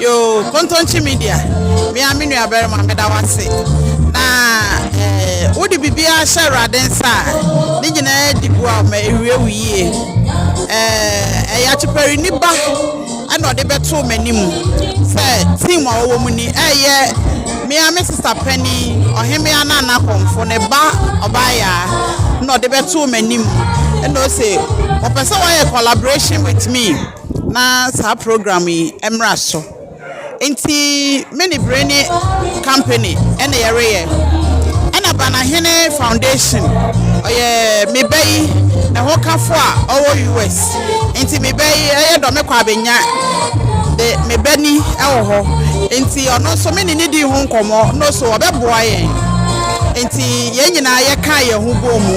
Yoo Kontonkye Media me a me nuabarima meda wase na eh, wode biribiara hyɛ Awurade nsa a ne nyinaa di boa ma ɛwie wo yie eh, ɛyɛ akyepɛre ni ba ɛna ɔde bɛtoo m'anim sɛ team a wɔwɔ mu ni ɛyɛ mmea me sista panyin ɔhemmea no anakɔmfo ne ba ɔbaayaa na ɔde bɛtoo m'anim ɛna ɔse ɔpɛ sɛ wɔyɛ collaboration with me na saa program yi mmra so nti me ne Breni company ɛna yɛreyɛ ɛna Banahene foundation ɔyɛ me ba yi na ho kafo a ɔwɔ US nti me ba yi ɛyɛ dɔ me kɔ abɛnya de me ba ni ɛwɔ hɔ nti ɔno nso me ne ne di ho nkɔmmɔ no so ɔbɛboa yɛn nti yɛn nyinaa yɛka yɛn ho bɔ mu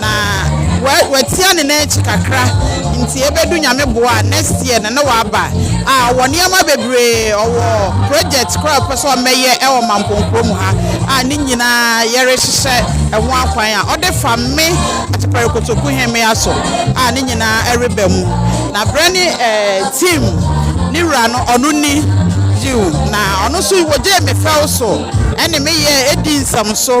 na wa watia ne nan akyi kakra nti ebedu nyame boa next year na na waba a ɔwɔ nneɛma bebree ɔwɔ project koraa pɛ sɛ ɔmɛyɛ ɛwɔ mamponkuro mu ha a ne nyinaa yɛrehyehyɛ ɛho akwan a ɔde fa me atepɛre kotoku hemmea so a ne nyinaa ɛreba mu na berɛ ne ɛɛ team ne wura no ɔno ni yiw na ɔno nso wɔgyee me fɛw so ɛne me yɛ edi nsɛm so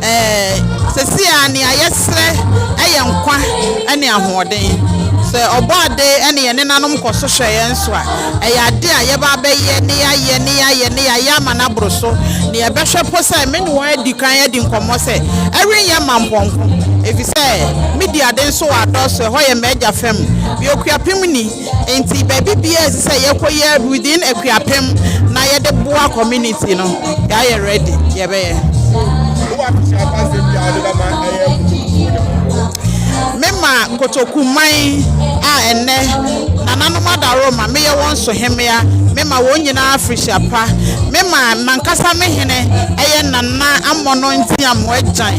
Ɛɛ, sɛsi a nea yɛsrɛ yɛ nkwa ne ahoɔden. Sɛ ɔbɔ ade ne yɛn nenanom kɔ so hwɛ yɛn so a, ɛyɛ ade a yɛba abɛyɛ ne yɛayɛ ne yɛayɛ ne yɛayɛ ama no aboro so. Ne yɛbɛhwɛ mpo sɛ me ne wɔn adi kan adi nkɔmmɔ sɛ ɛrenyɛ mampɔnko, efisɛ me di ade nso wɔ adɔɔso, ɛhɔ yɛ m'agya fam. Bio, kuapem ni. Enti baabi biara ɛsɛ sɛ yɛkɔ yɛ within Akuapem na yɛde boa community no yɛayɛ ready yɛbɛyɛ. Wowɔ abusuafoɔ asɛm bi a wode bɛma ɛyɛ kotokuo ne ho? Mema kotokuman a ɛnnɛ nananom adaworoma meyɛ wɔn so hemmea, mema wɔn nyinaa afirihyia pa. Mema m'ankasa me hene ɛyɛ Nana Amono Ntiamu Agyan.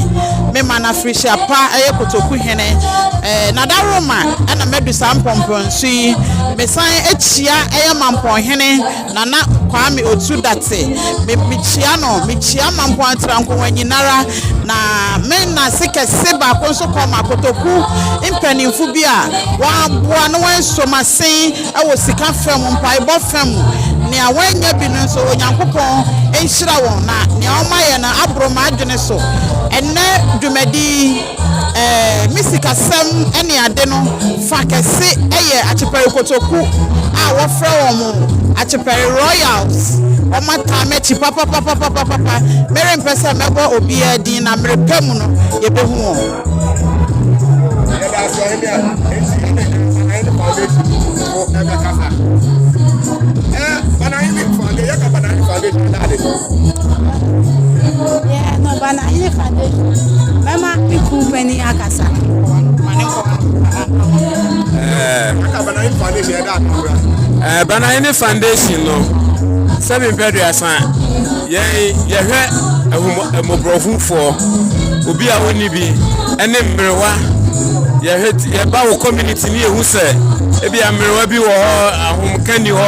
Mema no afirihyia pa ɛyɛ kotoku hene ɛɛ nadaworoma ɛna madu saa mpɔmpɔnsu yi, mesan kyia ɛyɛ mampɔnhene Nana Kwame Otu Date. Me mekyia no, mekyia mampɔn atirankongua nyinara na me nase kɛse baako nso kɔ ma kotoku mpanimfo bi a wɔaboa na wɔaso masen wɔ sika fam, mpaebɔ fam. Nea wɔanya bi no nso Onyankopɔn nhyira wɔn na nea wɔayɛ no aboro m'adwene so. Ɛnnɛ dwumadi ɛɛ, me sikasɛm ne ade no fa kɛse yɛ Akyepɛre kotoku a wɔfrɛ wɔn Akyepɛre Royals. Wɔataa m'akyi papapapapapapa. Merempɛ sɛ mɛbɔ obiara din na merepɛ mu no yɛbɛhu wɔn. Banahene Foundation no sɛ mempɛduasa yɛn yɛhwɛ mmɔborɔhufoɔ obi a ɔnni bi ɛne mmerewa yɛhwɛ yɛba wo community ne yɛhu sɛ ebi a mmerewa bi wɔ hɔ ahomka ni hɔ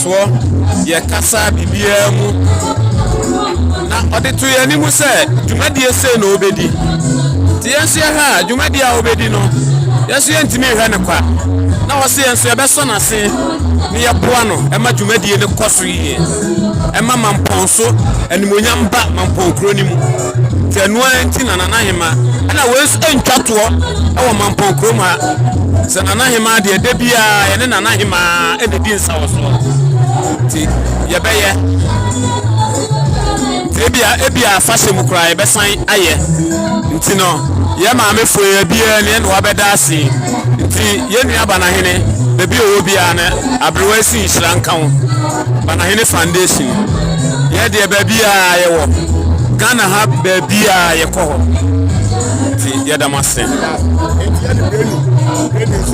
toɔ yɛ kasa biribiara mu na ɔde to yɛn anim sɛ dwumadie sei na ɔbɛdi nti yɛn nso yɛhwɛ a dwumadie a ɔbɛdi no yɛn nso yɛntumi nhwɛ no kwa na ɔse yɛn nso yɛbɛsɔ n'ase na yɛboa no ɛma dwumadie no kɔ so yie ɛma mampɔn so animonyam ba mampɔn kuro no mu nti ɛno ara nti na nana hema ɛna wɔn nso ntwa toɔ ɛwɔ mampɔn kurom ha sɛ nana hema deɛ da biara yɛne nana hema ɛna di na wɔ soɔ nti yɛbɛyɛ ebia ebia afahyɛ mu koraa yɛbɛsan ayɛ nti no yɛ maamefo yɛ biara ne ɛna wabɛda ase nti yɛ nua banahene baabi ɔwɔ biara no aberewa si nhyira nka ho banahene foundation yɛ deɛ baabi a yɛwɔ ghana ha baabi a yɛkɔ hɔ nti yɛda mo ase.